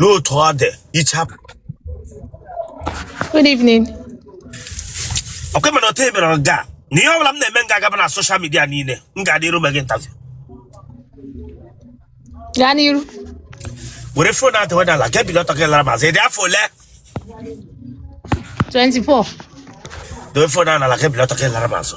n'otu ọ dị ichapụ Good evening. ọkwa mere otu emere nga a, na ihe ọbụla m na-eme nga agaba na soshal midia niile m ga-adị iru me gị interview Gaa n'iru. were fon adị weda ala gị bili ọtọ gị lara m azụ ị dị afọ ole 24. dowe fon a n'ala gị bili ọtọ gị lara m azụ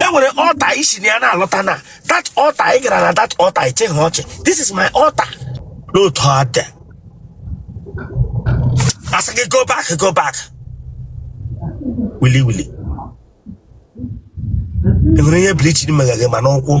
e nwere altar i si na ya na-alọta na that altar ị gara na that altar ịchịghị ọchị this is my altar n'otu ọ dị asị gị go back go back wili wili enwere ihe bleaching mega gị ma n'ụkwụ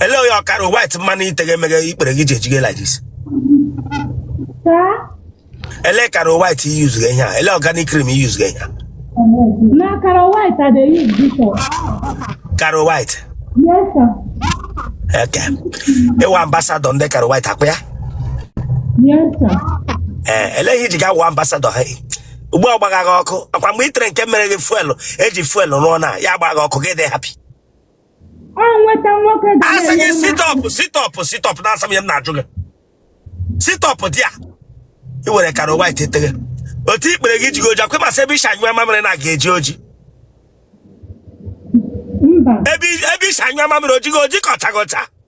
ele onye Caro White mmanụ i teghe emeghe ikpere gị ji ejighe like this ele Caro White use gị ihe a ele organic cream use gị ihe a na Caro White I dey use before Caro White yes sir eke ị wụ ambasadọ ndị Caro White akwa ya yes sir ee ele ihe i ji ga wụ ambasadọ ha ugbu a gbagha gị ọkụ akwa mgbe i tere nke mere gị fuelu eji fuelu rụọ na ya gbagha ọkụ gị dị happy ọ nweta nwoke ga-asị gị na-ama mma. stop stop stop na-asa m ihe m na-ajụ gị stop there i were Caro White tere otu ikpere gị jigo oji akwa ị ma sị ebe i si anyụ mamịrị na ọ ga-eji oji mba ebe ebe i si anyụ mamịrị o jigo oji ka ọcha gị ọcha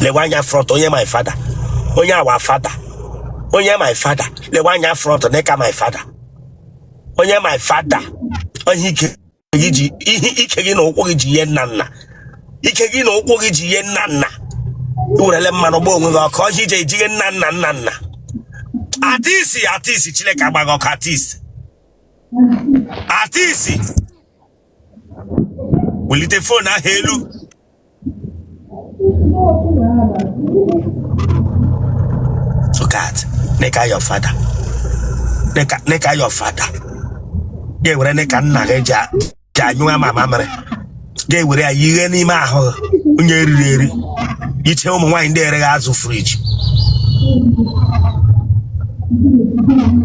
lewe anya front onye my father onye our father onye my father lewe anya front dịka my father onye my father onye ike gị jighe ike gị na ụkwụ gị jighe nna nna ike gị na ụkwụ gị jighe nna nna werele mmanụ gba onwe gị ọkụ ọ ihe i ji ejighe nna nna nna nna atisi atisi Chineke agba gị ọkụ atisi atisi welite fon ahụ elu look at knicker your father knicker knicker your father ga-ewere knicker nna gị ji a- ji anyụ ama mamịrị ga-ewere ya yighe n'ime ahụ onye riri eri i che ụmụ nwaanyị ndị eregha azụ friji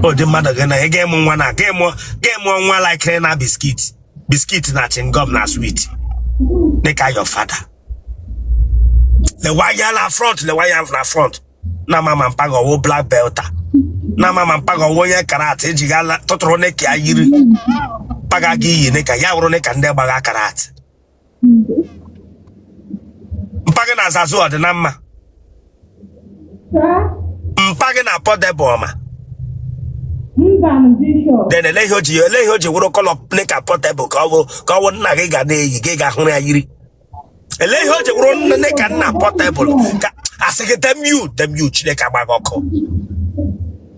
ụdị mmadụ gị na ị ga-amụ nwa na a ga-amụ ga-amụ nwa like na biscuit biscuit na chewing gum na sweet knicker your father lewa ya na front lewa ya na front na m ama mpa gị ọwụ black belter na m ama mpa gị ọwụ onye karate i ji ga tụtụrụ knicker ya yiri mpa gị ga-eyi knicker ya wụrụ knicker ndị gbagha karate mpa gị na Zazu ọ dị na mma mpa gị na Portable ọma then ele ihe o ji ele ihe o ji wụrụ colour dịka Portable ka ọ bụ ka ọ bụ nna gị ga na-eyi gị ga hụrụ ya yiri ele ihe o ji wụrụ nne ka nna Portable ka a sị gị damn you damn you chineke agba gị ọkụ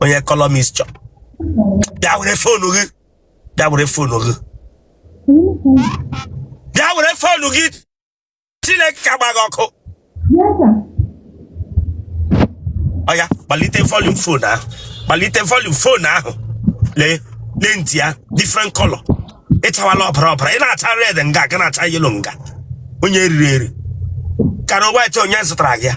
onye colour mixture bịa were phone gị bịa were phone gị bịa were phone gị chineke ka gba gị ọkụ oya kpalite volume phone ahụ kpalite volume phone ahụ lee lee ntị ya different color ị chawala ọbara ọbara ị na-acha red nga gị na-acha yellow nga onye e riri eri Caro White onye zụtara gị ya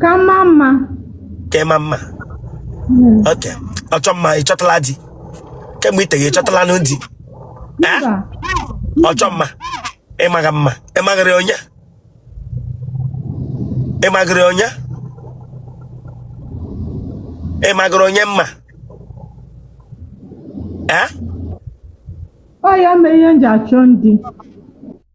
ka m maa mma ka ị maa mma oke ọchọ mma ị chọtala di kemgbe i teghe ị chọtalanụ di Eh? mba ọchọ mma ị maghị mma ị maghịrị onye ị maghịrị onye ị maghịrị onye mma Eh? ọ ya mee ihe m ji achọ ndị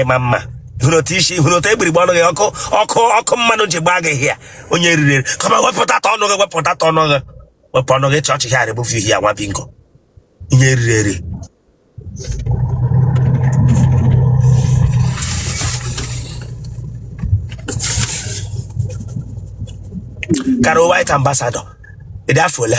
ịma mma hụrụ otu isi hụrụ otu egbirigbe ọnụ gị ọkụ ọkụ ọkụ mmanụ ji gbaa gị hịa onye e riri eri kama wepụta ta ọnụ gị wepụta ta ọnụ gị wepụ ọnụ gị chọọchị hịa rịbụ fihi ya nwa bingo onye e riri eri Caro White ambassador ị dị afọ ole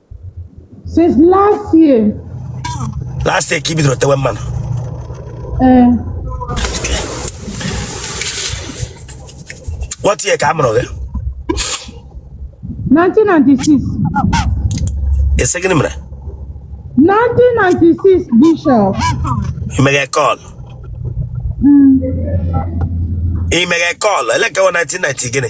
Since last year. Last year ka i bidoro tewe mmanụ. Ee. Eh. What year ka a mụrụ gị? 1996. Ị sị gịnị mere? 1996 Bishop. Ị meghe call. Ị meghe call, ele ka 1990 gịnị?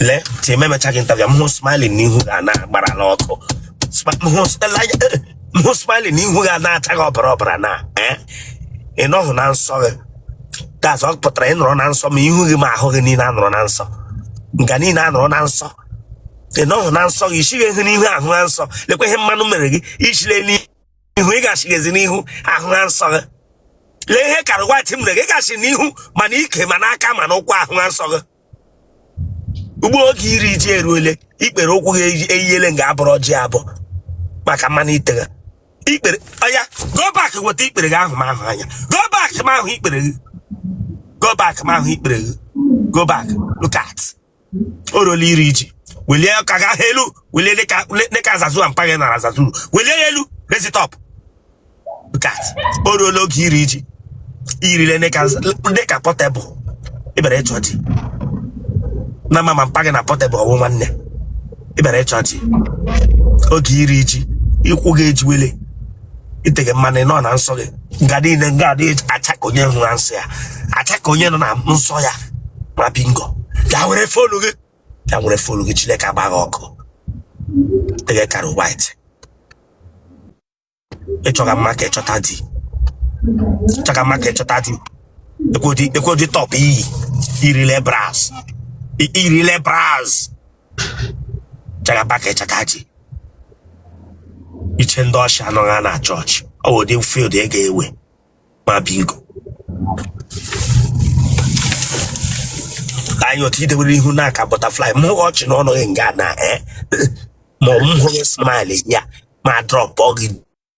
lee ti ememechaghị ntabịa m hụ smiling n'ihu gị a na-agbara n'ọkụ Smi- m hụ- ele anya, eh, m hụ smiling n'ihu gị a na-acha gị ọbara ọbara na eh, ị nọghị na nsọ gị that's ọ pụtara ị nọrọ na nsọ ma ihu gị ma ahụ gị niile anọrọ na nsọ nga niile anọrọ na nsọ ị nọghị na nsọ gị isighị ihe n'ihu ahụ na nsọ lekwa ihe mmanụ mere gị ichile n'ihu ihu ị gachighezi n'ihu ahụ ha nsọ gị lee ihe caro white mere gị gachi n'ihu ma n'ike ma n'aka ma n'ụkwụ ahụ ha nsọ gị ugbo oge iri ji eruole ikpere ụkwụ gị eyi- eyiele nga abụrụ ọjị ọ bụ maka mmanụ ị tega ikpere oya go back weta ikpere gị ahụ m ahụ anya go back m ahụ ikpere gị go back m ahụ ikpere gị go back look at o ruola iri ji welie aka gị ahụ elu welie dịka dịka azazua mpa gị nara azazuru welie ya elu raise it up gat o ruola oge iri ji irile dịka dịka portable ị bịara ịchọ di na mama mpa gị na portable wụ nwanne ị bịara ịchọ di oge iri ji ụkwụ gị ejiwele ị tega mmanụ ị nọ na nsọ gị nga niile nga adị acha ka onye nọ na nsọ ya acha ka onye nọ na nsọ ya ma bingo ya were fonu gị ya were fonu gị chineke agba gị ọkụ ị tega caro white ị chọga mma ka ị chọta di ị chọga mma ka ị chọta di ekwodi ekwodi top i yirile bras irile bras jagaba ka ịchaka ji iche ndị ọchị anọghị a na chọọchị ọ bụ ụdị field ị ga-ewe ma bingo anyị otu i dewere ihu dịka butterfly m hụghị ọchị n'ọnụ gị nga na eh? ma ọ bụ m hụghị smile ya m adrọpụ gị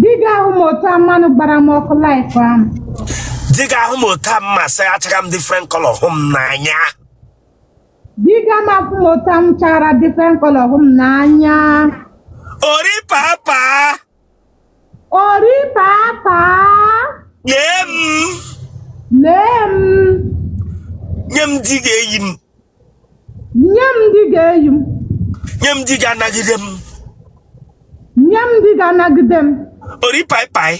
Di ga-ahụ m otu a mmanụ gbara m ọkụ like m. Di ga-ahụ m otu a mma sị achara m different color hụ m n'anya. Di ga-afụ m otu a m chara different color hụ m n'anya. Ori papa. Ori papa. Lee m. Lee m. Nye m di ga-eyi m. nye m di ga-eyi m nye m di ga-anagide m nye m di ga-anagide m ori paipai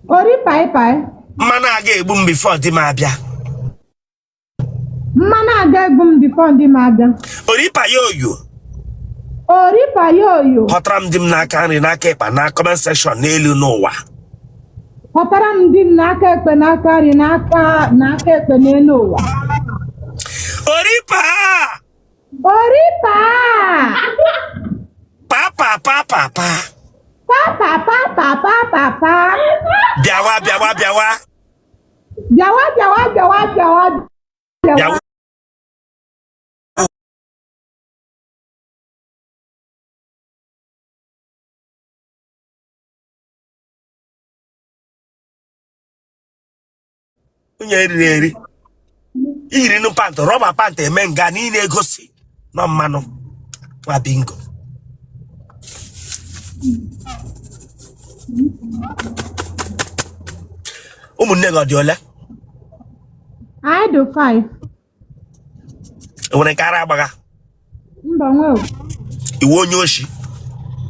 ori paipai mmanụ a ga-egbu m before di m abịa mmanụ a ga-egbu m before di m abịa ori payo oyo ori payo oyo họtara m di m n'aka nri n'aka ịkpa na comment section n'elu n'ụwa Họtara m di m n'aka ekpe n'aka nri n'aka n'aka ekpe n'elu ụwa. Oripa! Oripa! Papa, papa, pa. Papa papa papa pa. Bịawa, bịawa, bịawa. Bịawa bịawa bịawa bịawa Bịawa. bịawa. onye eriri eri i yiri nụ pantị rọba pantị eme nga na ị na-egosi anụmanụ nwa bingo ụmụnne gị ọ dị ole Anyị dị five. nwere nke ara agbagha mba nwe i wu onye oshi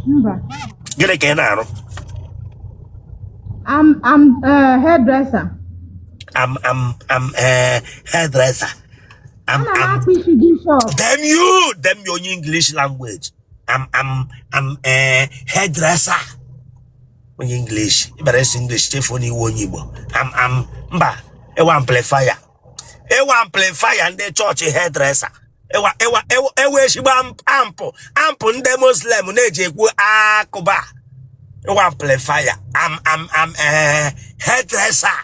mba gịnị ka ị na-arụ am am eh, hairdresser am am am eh, hairdresser am ana m am akpụ isi gị shop damn you damn you onye english language am am am eh, hairdresser onye english ị bara asụ english chefuo na i wu onye igbo am am mba i wu amplifier i wu amplifier ndị chọọchị hairdresser i wu i wu i wu ezigbo ampụ ampụ ndị muslim na-eji ekwu akụba i wu amplifier am am am eh, hairdresser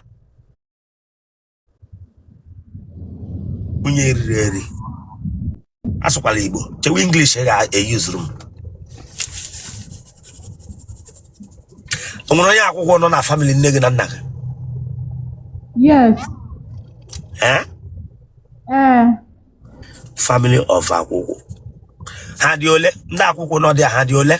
onye eriri eri asụkwala igbo chewe english ga-eyuzuru m o nwere onye akwụkwụ nọ na famili nne gị na nna gị Yes. ee Eh. family of akwụkwụ ha dị ole ndị akwụkwụ nọ there ha dị ole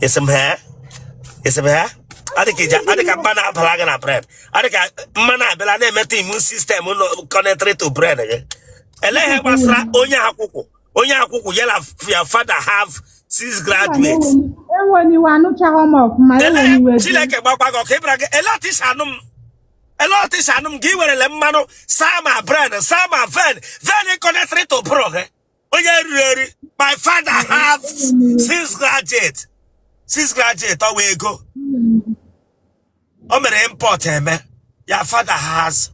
esi m ha esi m ha ọ dị ka mmanụ abara gị na brain ọ dị ka mmanụ abịala na-emeta immune system nọ connected to brain gị elee ihe gbasara onye akwụkwọ onye akwụkwụ ya na your father have six graduates chineke gbakwa gị ọkụ ịbara gị lee otu i si anụ m lee otu i si anụ m gị werele mmanụ saa ma brain saa ma vein vein connected to brain gị onye eriri eri my father have six graduate six graduate ọ wụ ego o mere import eme your father has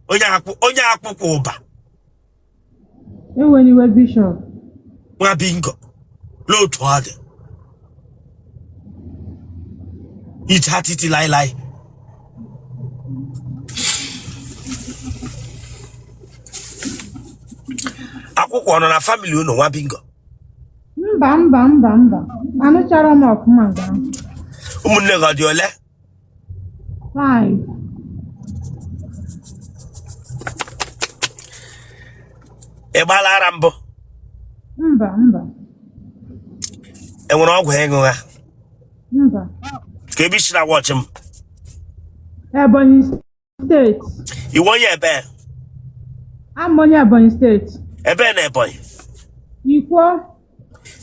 onye akwụ- onye akwụkwọ ụba enwere iwe bishọp nwa bingo n'otu ọ dị ìjà títí láéláé. akwụkwụ ọ nọ na famili unu nwa bingo mba mba mba mba anụchara m ọfụma nga ụmụnne gị ọ dị ole Five. ị gbaala ara mbụ Mba, mba, e nwere ọgwụ ị ṅụgha mba. kee ebe i si na-watch m Ebonyi steeti ị wụ onye ebe abụ m onye ebonyi steeti ebe na ebonyi ikwo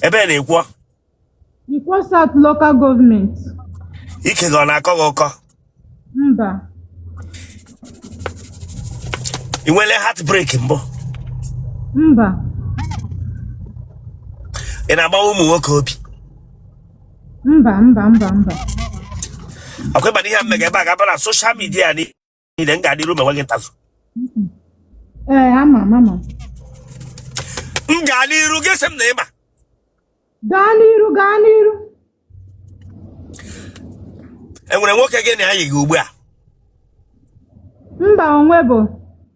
ebe na ikwo ikwo south local gọọmenti ike gị ọ na-akọ gị ọkọ mba ị nwere heartbreak mbụ mba ị na-agbawa ụmụ nwoke obi mba mba mba mba ọkwa ịma na ihe m mega ebe a ga-aba na soshal midia niile m gaa n'iru mewe gị interview ee ama m ama m m gaa n'iru gị sị m na ịma gaa n'iru gaa n'iru enwere nwoke gị na ya yi gị ugbu a mba onwebe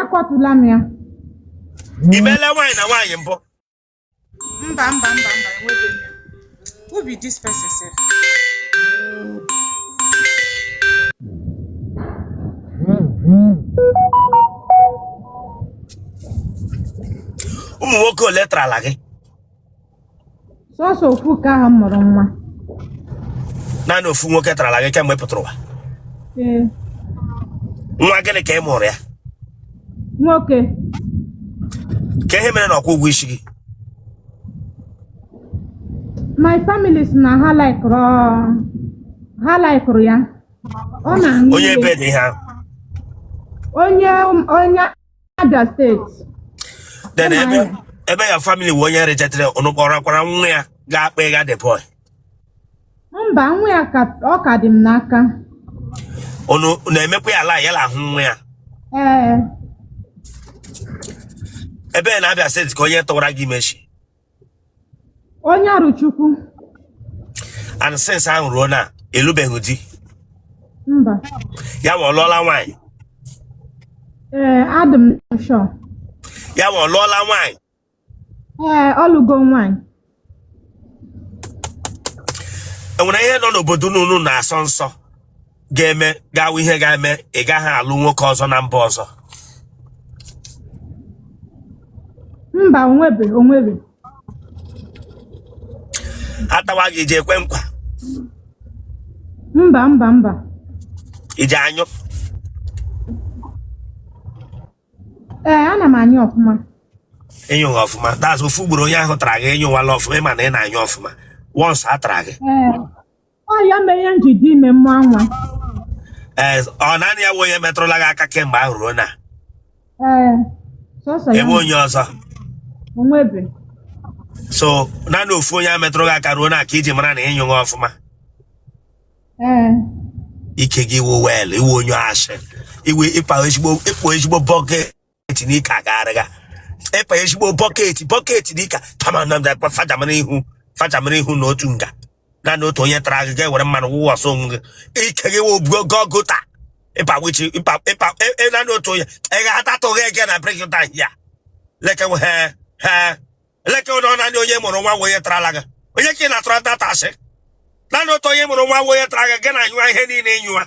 akọtụla m ya i mele nwaanyị na nwaanyị mbụ mba mba mba mba enweghị m ya who be this person sef ụmụ nwoke ole tarala gị sọsọ ofu nke ahụ m mụrụ nwa naanị ofu nwoke tarala gị kemgbe ị pụtara ụwa ee nwa gịnị ka ị mụrụ ya nwoke kee ihe mere na ọ kwụghị ụgwọ isi gị my family sị na ha laikụrụ ha laikụrụ ya ọ na-aṅụ onye ihe. ebe dị ihe ahụ onye onye Abia steeti then Ụmụ ebe anyị. ebe ya family wee onye rejetere ụnụ kpọrakwara nwa ya gaa kpọga the boy mba nwa ya ka ọ ka dị m n'aka ụnụ na-emekwa ya la ya lahụ nwa ya ee ebe na Abia steeti ka onye tụwara gị ime shi onye Arọchukwu and since ahụ ruo now ị lụbeghị di mba ya wa ọ lụọla nwaanyị ee adị m sure ya ma ọ lụọla nwaanyị ee ọ lụgo nwaanyị enwere ihe nọ n'obodo unu unu na-asọ nsọ ga-eme gawa ihe ga-eme ị gaghị alụ nwoke ọzọ na mba ọzọ mba onwebe onwebe a tawa gị i ji ekwe nkwa mba mba mba i ji anyụ ee ana m anyụ ọfụma ịnyụghị ọfụma that's ofu ugboro onye ahụ tara gị ịnyụwala ọfụma ịma na ị na-anyụ ọfụma once a tara gị ee ọ ya mere ihe nji dị ime mma nwa ee ọ naanị ya bụ onye metụrụla gị aka kemgbe ahụ ruo now ee sọsọ ya e nwe onye ọzọ o nwebe so naanị ofu onye a metụrụ gị aka ruo now ka i ji mara na ị nyụghị ọfụma ee ike gị wụ well ị wụ onye ashị iwu ịkpa ezigbo ịkpụ ezigbo bọke bọket n'ike agagharịga ị pa ezigbo bọket bọket n'ike kama na mda fajamara ihu fajamara ihu na otu nga na na otu onye tara gị ga-ewere mmanụ wụwa ọsọ onwe gị ike gị wụ obugo gọgụ taa ịpa wichi ịpa ịpa ị- ị na na otu onye ị ga-atatụghị ege na break ta ya like we- he he like ụdọ naanị onye mụrụ nwa wee tarala gị onye ka ị na-atụrụ dat asị naanị otu onye mụrụ nwa wee tara gị gị na-anyụwa ihe niile ịnyụwa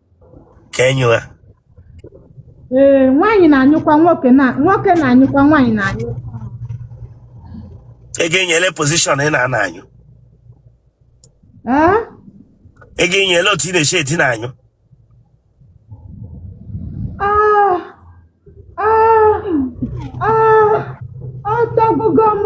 ka e nyụwa ee nwaanyị na-anyụkwa nwoke na nwoke na-anyụkwa nwaanyị na-anyụ ị ga-enyele pozishọn ị na-anọ anyụ ee ị ga-enyele otu ị na-eshi edina anyụ Ah, ah, ah, ọ tọgbugo m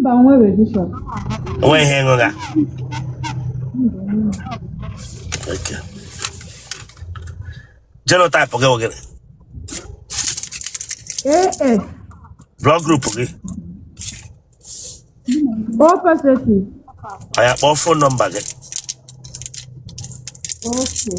Mba nwere bishọp. O nwe ihe m gụgha. Okay. Genotype gị ọ gịnị. AS. Blood group gị. O positive. Anyị akpọ fon nọmba gị. Okay.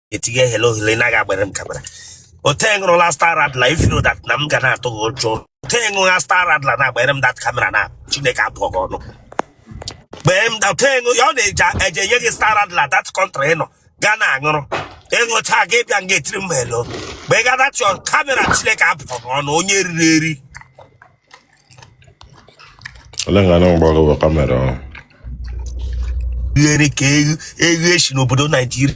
etinye hele ohere naghị agbere m kamera ote ṅụrụla star radler ị feel dat na m ga na-atụ gị ụjọ ote ṅụgha star radler na-agbere m dat kamera na chineke abụọ gị ọnụ gbee m dat ṅụ ya ọ na-eji eje enye gị star radler dat kọntrị ị nọ ga na-aṅụrụ ị ṅụcha gị bịa nga etiri m helo mgbe ị gada chọọ kamera chineke abụọ gị ọnụ onye riri eri ole nga na mgbagọwa kamera ahụ riere ka eghe eghe si n'obodo naijiria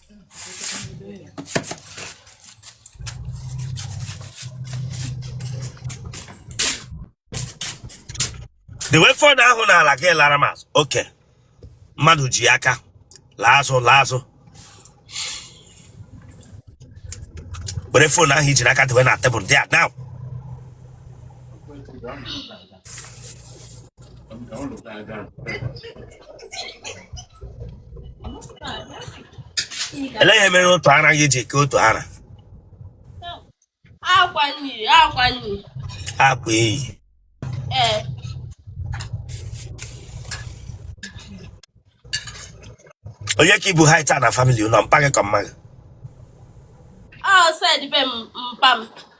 dewe phone ahụ n'ala gị lara m azụ oke mmadụ ji aka laa azụ laa azụ were phone ahụ i ji n'aka dewe na tebụl there now ele ihe mere otu ara gị ji ka otu ara akwa nri akwa nri akwa eyi ee onye ka i bu height a na famili ụlọ mpa gị ka mma gị ọ side be m mpa m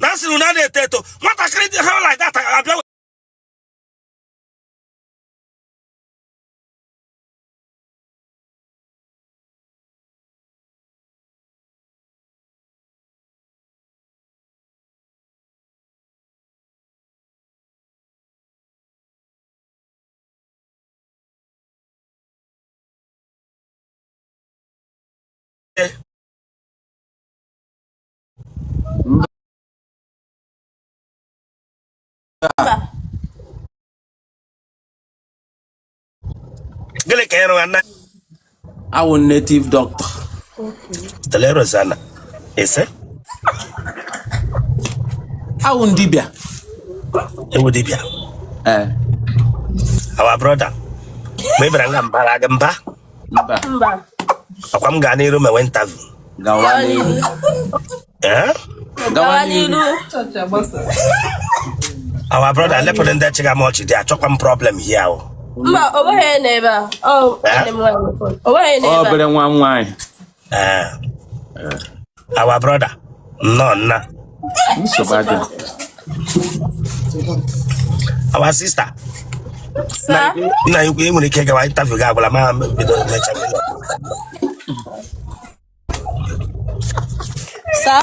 na nsị na na-eto eto nwatakịrị dị ha like that abịa Yeah. gịnị ka ịrụ ana awụ native doctor telerozana ise awụ dibịa ị wụ dibịa ee our brother mgbe ị bịara nga m baara gị mba ọ kwa m gaa n'iru mewe interview gawa n'iru eh? gawa n'iru our brother lepụrụ ndị chịga m ọchị dị achọkwa m problem here o mba o nweghị n'ebe a o nweghị n'ebe a obere nwa nwaanyị Eh, our brother nnọọ nna nsogbu adịghị our sister Sir, nna ukwu i nwere ike gawa interview gị agwala ma bido mecha sir.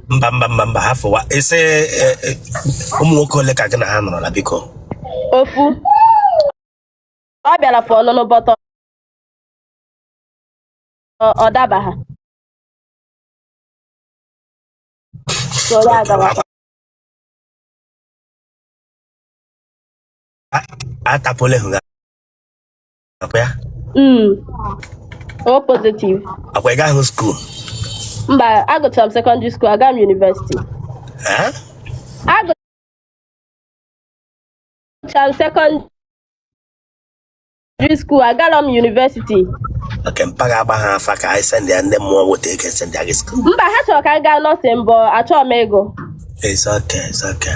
mba mba mba mba hafụwa sir eh, eh, ụmụ nwoke ole ka gị na ha nọrọla biko ofu ọ bịara for ọlụlụ but ọ- ọ daba ha so ya agawa atapụle hụ ọ kwa ya Mm. O positive. ọ kwa ị gahụ school Mba, agụchara m secondary school, agarọ m university. Eh? Agụchara m secondary school, agarọ m university. okay mpa gị agbaha afa ka anyị send ya ndị mmụọ nweta ego e send ya gị school Mba, ha chọrọ ka m gaa nursing but achọọ m ego. It's okay, it's okay.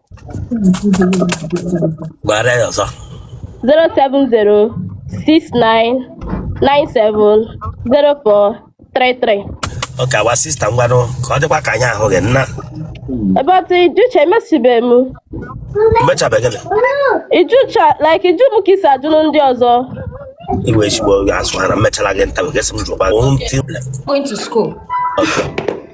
gbara ya ọzọ 07069970433 okay our sister ngwanụ ka ọ dịkwa ka anyị ahụghị nna But ị jụcha emesibe m. mechabeghị na ị jụcha like ị jụ m ka i si ajụrụ ndị ọzọ. iwe ezigbo azụ ha na mmechara gị nta gị sị m jụkwa going to school. Okay.